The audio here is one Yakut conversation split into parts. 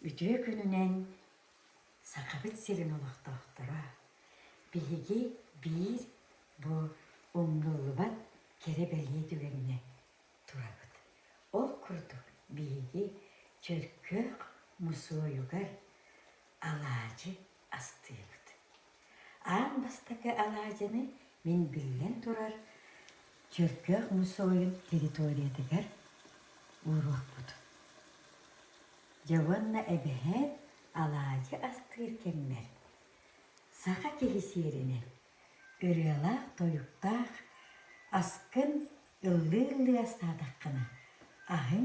Үтүө күнүнэн Сахабыт сирин олохтоохторо! Биһиги биир бу умнуллубат кэрэ-бэлиэ түгэнинэ турабыт. Ол курдук биһиги Чөркөөх мусуойугар алаадьы астыыбыт. Аан бастакы алаадьыны мин биллэн турар Чөркөөх мусуойун территориятыгар ууруохпут. Дьэ уонна эбэһээт алаадьы астыыр кэммэр саха киһи сиэринэн ырыалаах-тойуктаах аскын ыллыы-ыллыы астаатаххына аһыҥ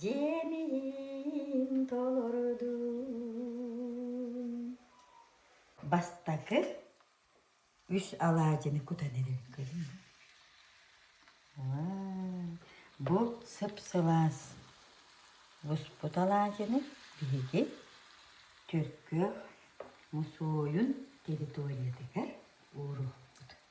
Дьэмиин толордум. Бастакы үс алаадьыны кутан эрэр көрүҥ. Бу сып-сылаас буспут алаадьыны биһиги Түркүөх мусуойун территориятыгар ууруохпут.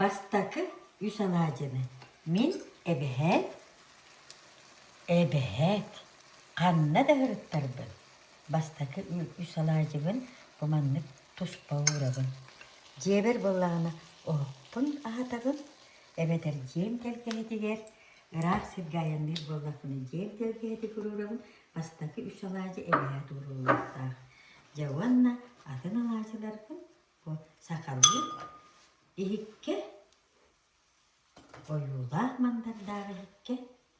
Бастакы үс анаа дьэбэн Мин эбэһээт Эбэһээт ханна да ырыттарбын Бастакы үс алаадьыбын Бу маннык туспа уурабын Дьиэбэр буоллаҕына оһохпун аһатабын Эбэтэр дьиэм тэлгэһэтигэр Ыраах сиргэ айанныыр буоллахпына дьиэм тэлгэһэтиг уруурабын Бастакы үс алаадьы эбэһээт ууруллуохтаах Дьэ уонна атын алаадьыларбын Бу сахалыы иһиккэ, ойуулаах мандардаах иһиккэ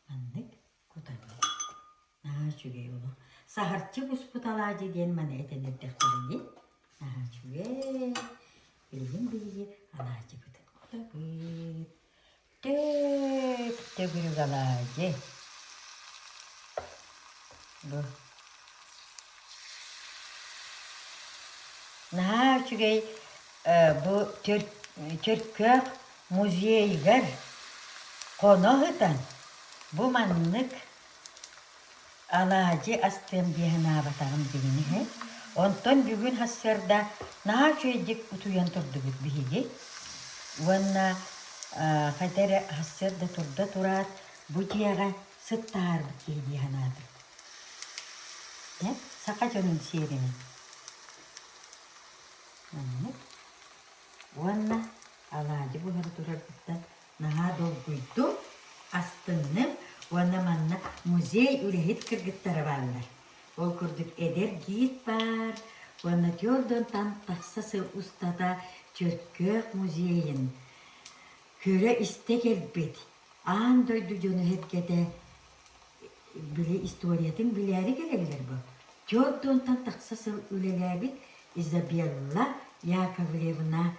маннык кутабын. Наһаа үчүгэй олу. Саһарчы буспут алаадьы диэн маны этэн эрдэхтэрэ дии. Наһаа үчүгэй. Билигин биһиги алаадьыбытын кутабыт. Тыык, төгүрүгалаадьы. Бу. Наһаа үчүгэй бу Чөркөөх музейыгар хоно ыһытан бу маннык Алаадьы астыам дии санаабатаҕым дьиҥин иһин. Онтон бүгүн сарсыарда наар үчүгэйдик утуйан турдубут биһиги. Уонна а, хайда эрэ сарсыарда турда тураат, бу дьиэҕэ сыттаһарбыт киһи дии санаатым. Дьэ, саха дьонун сиэринэн. Маннык. Уонна алаадьы буһара турарбыттан наһаа долгуйдум, астынным уонна манна музей үлэһит кыргыттара бааллар. Ол курдук эдэр гид баар уонна түөрт онтон тахса сыл устата Чөркөөх музейын көрө-истэ кэлбит, аан дойду дьоно-сэргэтэ били историятын билээри кэлэллэр бу. Түөрт онтон тахса сыл үлэлээбит Изабелла Яковлевна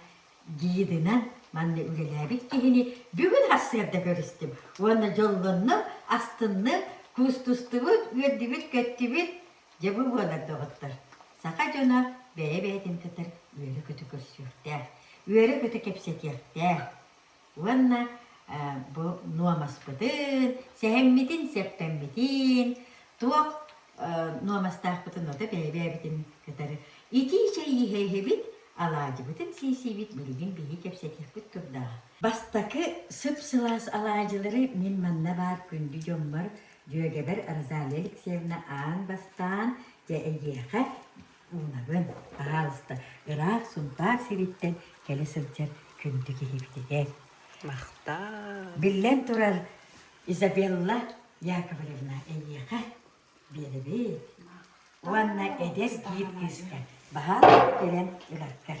Диидинэн манна үлэлээбит киһини бүгүн сарсыарда көрүстүм уонна дьоллоннум, астынным, куустустубут, үөрдүбүт-көттүбүт. Дьэ бу буолар доҕоттор, саха дьоно бэйэ-бэйэтин татар үөрэ-көтө көрсүөхтээх, үөрэ-көтө кэпсэтиэхтээх. уонна бу нуомаспытын, сэһэммитин-сэппэммитин, туох нуомастаахпытын ото бэйэ-бэйэбитин кытары итии чэй иһэ-иһэбит, алаадьыбытын сиисийбит билигин биһиги кэпсэтиэхпит турдааҕа. Бастакы сып-сылаас алаадьылары мин манна баар күндү дьоммор, дьүөгэбэр Розалия Алексеевна аан бастаан дьэ эйиэхэ Уунабын, пожалуйста, ыраах Сунтаар сириттэн кэлэ сылдьар күндү киһибитигэр. Махтаа. Биллэн турар, Изабелла Яковлевна эйиэхэ биэрэбит уонна эдэр киир кыыска баһаалайбыт өлөн өлөргөр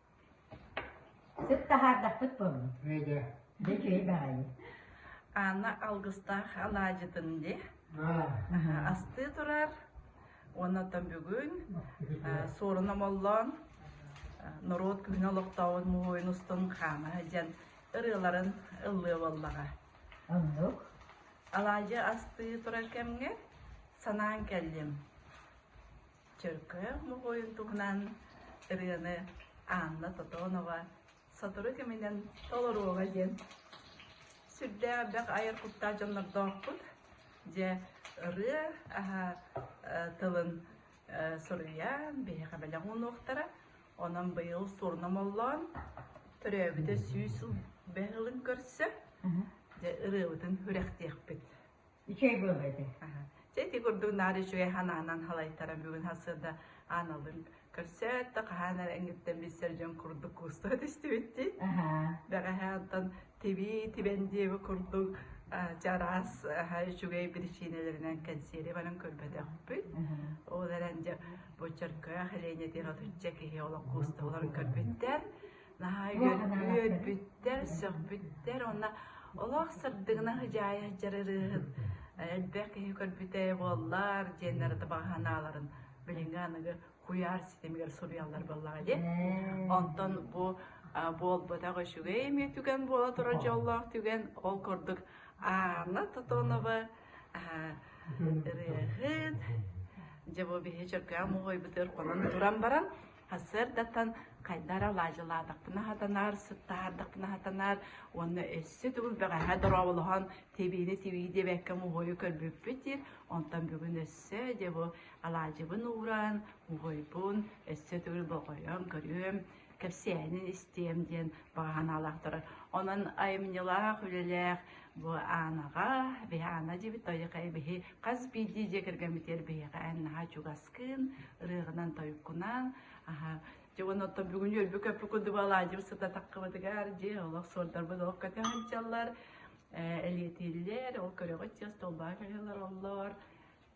Сыт таһаардахпыт буоллун? Эйдэ. Бу үчүгэй баҕайы. Анна алгыстаах алаадьытын дии астыы турар уонна оттон бүгүн суорун омоллоон норуот күһүн олохтообут муһуйун устун хаама сылдьан ырыаларын ыллыа буоллаҕа. Оннук. Алаадьы астыы турар кэмҥэ санаан кэллим. Чөркөөх моҕойун туһунан ырыаны Анна Тотонова сотору кэминэн толоруоҕа диэн сүрдээх бөх айар куттаах дьоннордоохпут. Дьэ, ырыа аһа тылын суруйан биһиэхэ бэлэх уунуохтара. Онон быйыл сурнум оллоон төрөөбүтэ сүүс сыл бэһылын көрсө, дьэ, ырыабытын үрэхтиэхпит. Үчүгэй буолла ити. Чэ ити курдук наар үчүгэй санаанан халайтара бүгүн сырда аналын көрсөөт да хаһаан эрэ эҥиттэн билсэр дьон курдук куустуга түстүбүттүү. Бэҕэһээ оттон тиби тибэн диэби курдук чараас үчүгэй причиналарынан кэнсиэри баран көрбөтөхпүт. Ол эрэн дьэ бу чөркөөх Леня тиратычча киһи олох куустуларын көрбүттэр. наһаа үөрбүттэр, сөхбүттэр уонна олох сырдыгына хыдьаайа дьарырыыһын элбэх киһи көрбүтэ буоллар диэннэр да баҕаһанааларын билиҥҥи аныгы куйаар ситимигэр суруйаллар буоллаҕа дии. Онтон бу буолбатах үчүгэй эмиэ түгэн буола турар дьоллоох түгэн ол курдук Анна Тотонова ырыаһыт дьэ бу биһи чөркөөн муһуйбытыр хонон туран баран Сарсыардаттан хайда эрэ алаадьылаатахпына хатанаар, сыттаһаардахпына хатанаар уонна өссө төгүл бэҕэһээ дорооболоһон тибиини тибии диэбэккэ муһуойу көрбүппүт диир. Онтон бүгүн өссө дьэ бу алаадьыбын ууран, муһуойбун өссө төгүл болҕойон көрүөм, кэпсээнин истиэм диэн баҕа санаалаах турар. Онон айымньылаах, үлэлээх Бу Анаҕа, Биһаана дибит тойоқай биһи хас биирдии дьиэ кэргэммитигэр биһиэхэ эн наһаа чугаскын, ырыаҕынан тойуккунан, аха дьон оттон бүгүн өлбү көппү курдубалаадьым сыта таккыбытыгар дьиэ олох суордарбыт олох көтө сылдьаллар, э, элиэтииллэр, ол көрөҕүт чаас толбаан кэлэлэр оллор,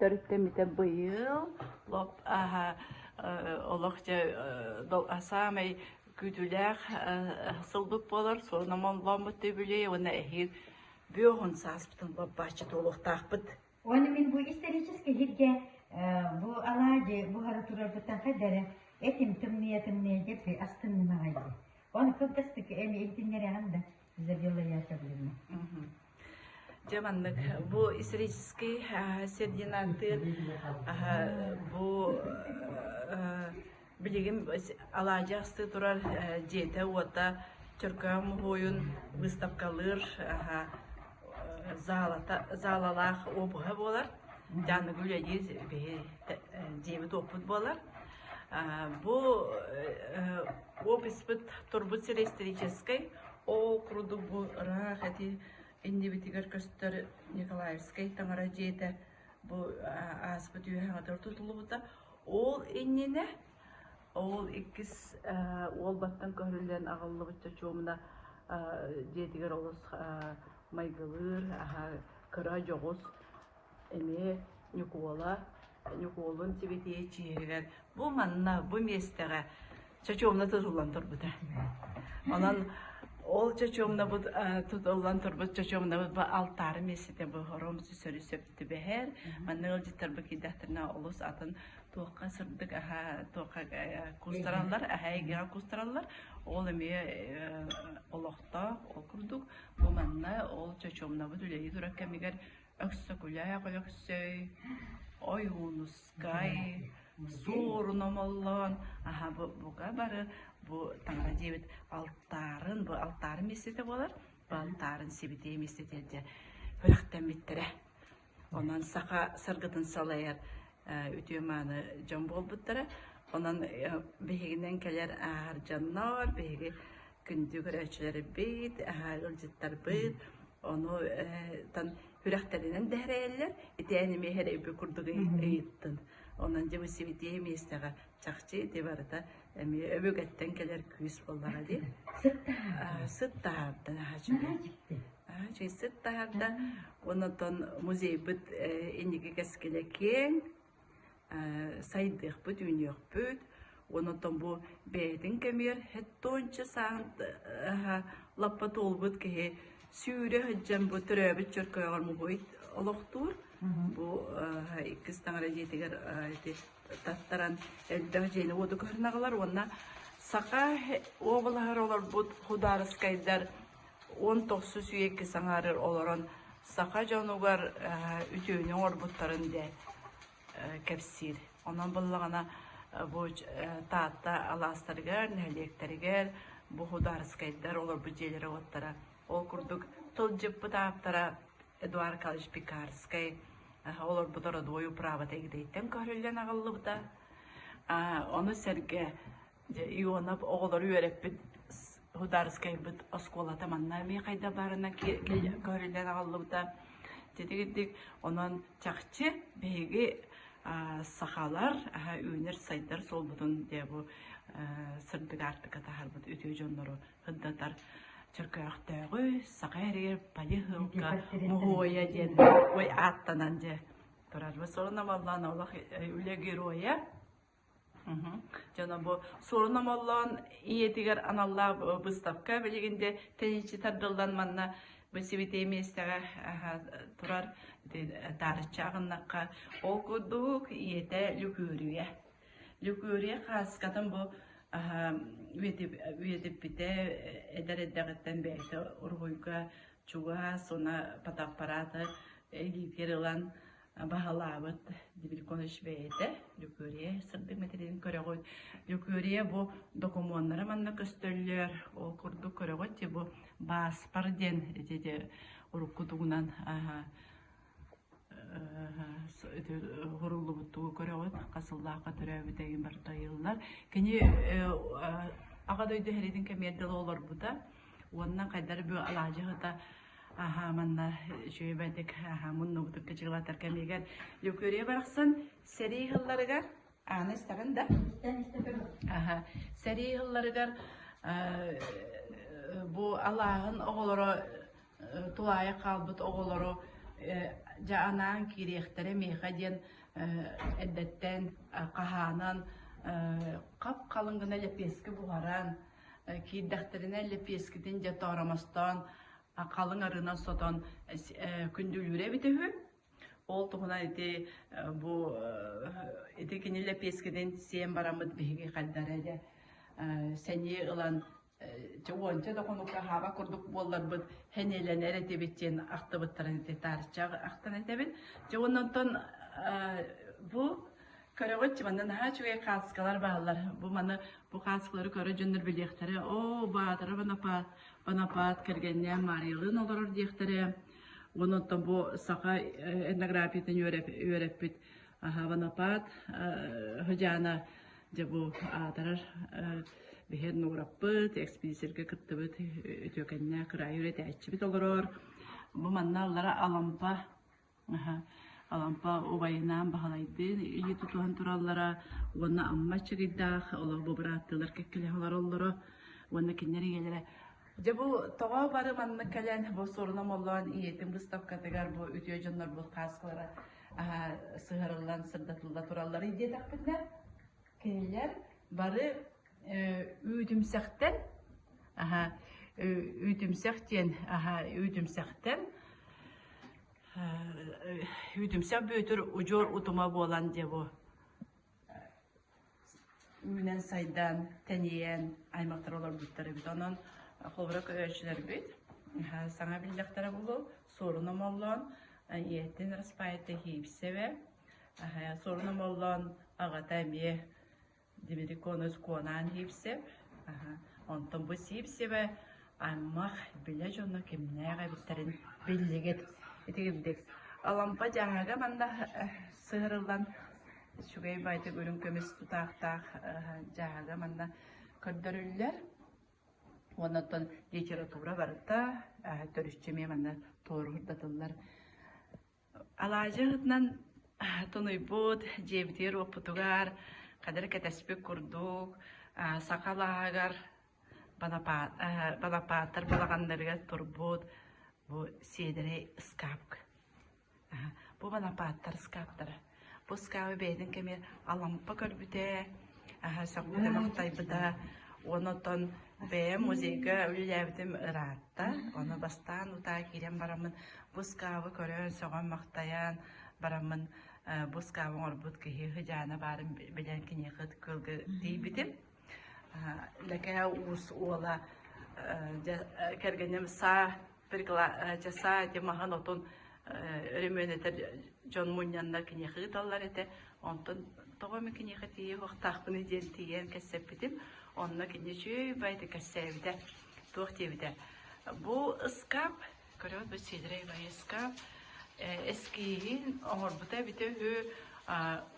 Төрүттэммитэ быйыл лоп аһа олох дьэ саамай күүтүүлээх сылбыт буолар суон омоллооммут үбүлүөй уонна эһиил бүөһун сааспытын лоппааччыт буолуохтаахпыт. Оны мин бу исторически бу алаадьы буһары турарбыттан хадара этим тымния тымния деп астынным ағайды. Оны кылгастык эми иһитиннерэҕин да Изабелла Яковлевна. Дьэ маннык бу исторический сирдинантыын бу билигин алаадьы астыы турар дьиэтэ-уота Чөркөөн муһуойун быыстапкалыыр заалата заалалаах обуһа буолар Дьааныгы үлэлиир биһи дьиэбит-уоппут буолар бу описпыт турбут сири историческай Оо, курдук ыраах ити иннибитигэр көстөр Николаевскай таҥара дьиэтэ бу ааспыт үөһэҕэ тутулубута. Ол иннинэ ол иккис уол баттан көһөрүллэн аҕаллыбыт чочуомуна дьиэтигэр олус майгылыыр, аһа кыра дьоҕус эмиэ Ньукуола Ньукуолун сибэтиэй чиэһигэр бу манна бу миэстэҕэ чочуомна тутуллан турбута. Онон ол чочуомнабыт тутуллан турбут чочуомнабыт бу алтаары миэстэтэ бу хором сүсөрү сөп түбэһэр. Манна ыалдьыттарбы киирдэхтэринэ олус атын туохха сырдык аха туохха кустараллар аха эйгэҕэ кустараллар ол эмиэ олохтоох ол курдук бу манна ол чочуомнабыт үлэһит урак кэмигэр Өксөкүлээх Өлөксөй, Ойуунускай, Суорун Омоллоон аһа буга бары бу таҥара диэбит алтаарын бу алтаарын мисситэ буолар бу алтаарын сибитиэ мисситэ дьэ күрэхтэммиттэрэ онон саха саргытын салайар үтүө-мааны дьон буолбуттара. Онон биһигинэн кэлэр ааһар дьоннор, биһиги күндү көрөөччүлэрбит, ыалдьыттарбыт, ону тан күрэхтэринэн дэһэрэллэр, итээн имиэхэр эби курдук ыйыттын. Онон дьэ сибитиэ миэстэҕэ чахчы ити барыта эмиэ өбүгэттэн кэлэр күүс буоллаҕа дии. Сыт таһаардан аһаччы. чыйсыт таһарда онотон музейбыт инники кэскилэ киэҥ сайдыахпыт үүнүөхпүт онотон бу бэйэтин кэмигэр хэттончу саан лаппа туолбут киһи сүүрэ сылдьан бу төрөөбүт чөркөйөҕөр муһуйт олохтуур бу иккис таҥара дьиэтигэр таттаран элбэх дьиэни уоду көрүнаҕылар уонна саха облаһар олорбут худаарыскайдар уон тохсус үйэ иккис аҥаарыгар олорон саха дьонугар үтүөнү оҥорбуттарын дьэ кэпсиир. Онон буллаҕына бу Таатта алаастарыгар, нэһилиэктэригэр бухудаарыскайдар олорбут дьиэлэрэ-уоттара ол курдук тылдьыппыт ааптара Эдуард Николаевич Пекарскай олорбут родовой управата ититтэн көһөрүллэн аҕаллыбыта. Ону сэргэ Дьэ, Ионов оҕолору үөрэппит Худаарыскайбыт оскуолата манна эмиэ хайда баарынан көрүллэн аҕаллыбыта. Титигирдик, онон чахчы биһиги сахалар үүнэр-сайдар суолбутун дебу сырдык аартыка таһарбыт үтүө дьоннору хыддатар чөкөөхтөөҕү саха эригэр пайыһылка муһуойа диэн ой ааттанан дьэ турарбы сорона баллаан олох үлэ героя Дьоно бу суорун омоллоон ийэтигэр аналлаах быыстапка билигин де тэниччи тардыллан манна бысибитие миэстэҕэ турар таарычча агыннакка ол курдук ийэтэ Лүкүөрүйэ. Лүкүөрүйэ хааскатын бу үйэтиппите эдэр эддэҕиттэн бэйэтэ уруһуйга чугаас уна патаппараты илиитигэр ылан баһылаабыт Дебельконыч бэйэтэ Лүкүөрүйэ сырдык материалын көрөҕүт. Лүкүөрүйэ бу докумуоннара манна көстөллөр. Ол курдук көрөҕүт ти бу Бааспар диэн ити уруккутугунан хуруллубуттугу көрөҕүт хасыллаахка төрөөбүтэгин бартайыллар кини аҕа дойду хәритин кэмиэрдэл олорбута Уонна хайдары бу алаадьыһыта аха манна үчүгэйбэтик аха муннубутук кычыылатар кэмигэр Лүкүрия барахсан сэрии хылларыгар ааны истарын да аха сэрии хылларыгар бу алааһын оҕолоро тулаайа хаалбыт оҕолору дьа анаан киириэхтэрэ миэхэ диэн эрдэттэн хаһаанан хап халыҥ гына лэпиэскэ буһаран киирдэхтэринэ лэпиэскитин дьэ тооромостоон халыҥ арыынан сотон күндүлүүрэ эбитэ үһү ол туһунан ити бу ити кини лэпиэскитин сиэн бараммыт биһиги хайдара дьэ сэнии ылан уонча да хонукка хаава курдук буолларбыт хэниэлэнэр этибит диэн ахтыбыттарын ити таарычча ахтан этэбин дьэ оннантон бу Көрөҕүт, манна наһаа үчүгэй хаацкалар бааллар. Бу маны бу хаацкалары көрө дьоннор билиэхтэрэ. Оо, Баатара Бонапаат, Бонапаат кэргэннээн Маарыйалыын олорор диэхтэрэ. Онон бу саха э, этнографиятын үөрэппит аха Бонапаат э, Хожаана дьэ бу аатарар э, биһиэн нуураппыт, экспедицияга кыттыбыт үтүөкэннэ кыраайы үлэтээччибит олорор. Бу манна аллара Алампа Алампа убайынаан Баһылайдыын ийэ тутуһан тураллара уонна Амма Чыгыйдаах олох бу бырааттыылар кэккэлэһэ олороллоро уонна кинилэр ийэлэрэ Дьэ бу тоҕо бары маннык кэлэн бу сурунам олоон ийэтин быыстапкатыгар бу үтүө дьоннорбут хааскалара сыһарыллан сырдатылла тураллара диэтэхпинэ кинилэр бары Үүтүмсэхтэн үүтүмсэх диэн үүтүмсэхтэн үүтүмсэх Бүөтүр удьуор утума буолан дьэ бу үүнэн сайдаан тэнийэн аймахтар олорбуттар эбит онон холобура көрөөччүлэрбит саҥа биллэхтэрэ буолу Суорун Омоллоон ийэтин Распаайта Хиипсэвэ Суорун Омоллоон аҕата эмиэ Дибири куонус куонаан иипсэм, онтон бу сиипсэбэ аймах, билэ дьоно кимнээх эбиттэрин биллигит итигирдик. Алампа дьааһыга манна сыһырыллан үчүгэй байтык үрүҥ көмүс тутаахтаах дьааһыга манна көрдөрүллэр. Уонна оттон литература барыта төрүччү эмиэ манна туоруурдатыллар. Алаадьы ыһытынан тунуйбут, дьиэбитигэр уоппутугар хадары кэтэспит курдук саха алааһыгар балапаат балапааттар балаҕаннарыгар турбут бу сиэдэрэй ыскаапка. Бу балапааттар ыскааптара Бу ыскаабы бэйэтин кэмигэр Алампа көрбүтэ, аһа сөхпүтэ, махтайбыта. Уон отон бэйэм музейга үлэлээбитим ыраатта. Ону бастаан утаа киирэн бараммын бу ыскаабы көрөн, сөҕөн-махтайан бараммын э, бу ыскаабы оҥорбут киһи сыдьаана баарын билэн киниэхэ кылгы тиийбитим. Э, Лэкээ уус уола э, дьэ, кэргэним саа часа маһан отун өрөмүөнэтэр дьон мунньаннар киниэхэ ыыталлар этэ онтон тоҕо эмэ киниэхэ тиийэ уохтаахпыны диэн тиийэн кэпсэппитим онно кинини үчүгэй байты кэпсээбитэ туох диэбитэ бу ыскаап көрөөт бу сидрэй бай ыскаап эскииһин оҥорбута эбитэ үһү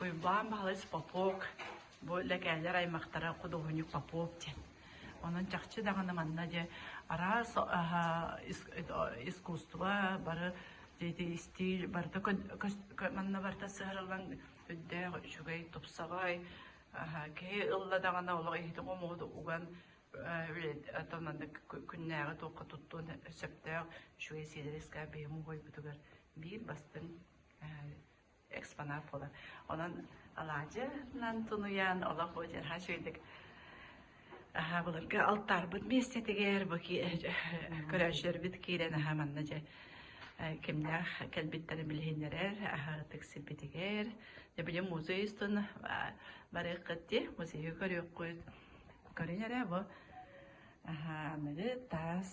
уйбаан баһалыс попок бу лэкээлэр аймахтара худуоһунньук попок диэн Онон чахчы даҕаны манна дьэ араас искусство бары истиил барыта манна барыта сыһарыллан үрдээх үчүгэй тупсаҕай киһи ылла даҕаны олох иһити умуоду уган тонаннык күннээҕи туохха туттуон сөптөөх үчүгэй сиэдэрискэ биһиму буойбутугар биир бастыҥ экспонат буолар. Онон алаадьынан тунуйан олох бу дьарха шөйдік аха былырга алтарбыт миэстэтигэр бу ки көрөөччөрбүт киирэн аха манна дьэ кимнээх кэлбиттэрин билиһиннэрэр аһаҕытык сирбитигэр дебиде музей устун барык кытти музейы көрүөхкүт көрүн эрэ бу аха аныгы таас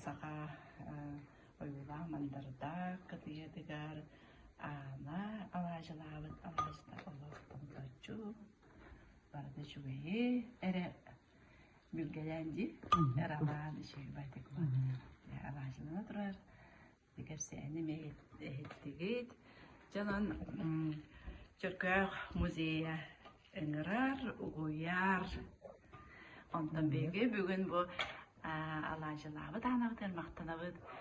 саха ойуулаах мандардаах кытыйатыгар аана алаадьылаабыт алаадьыта олох тоҥторчу барыта үчүгэйи эрэ билгэлээн дии эр алаан ичигибайтик алаадьылана турар кэпсээни эһиттигит дьонон Чөркөөх музейа ыҥырар, угуйар. Онтон биһиги бүгүн бу алаадьылаабыт аанабыт махтанабыт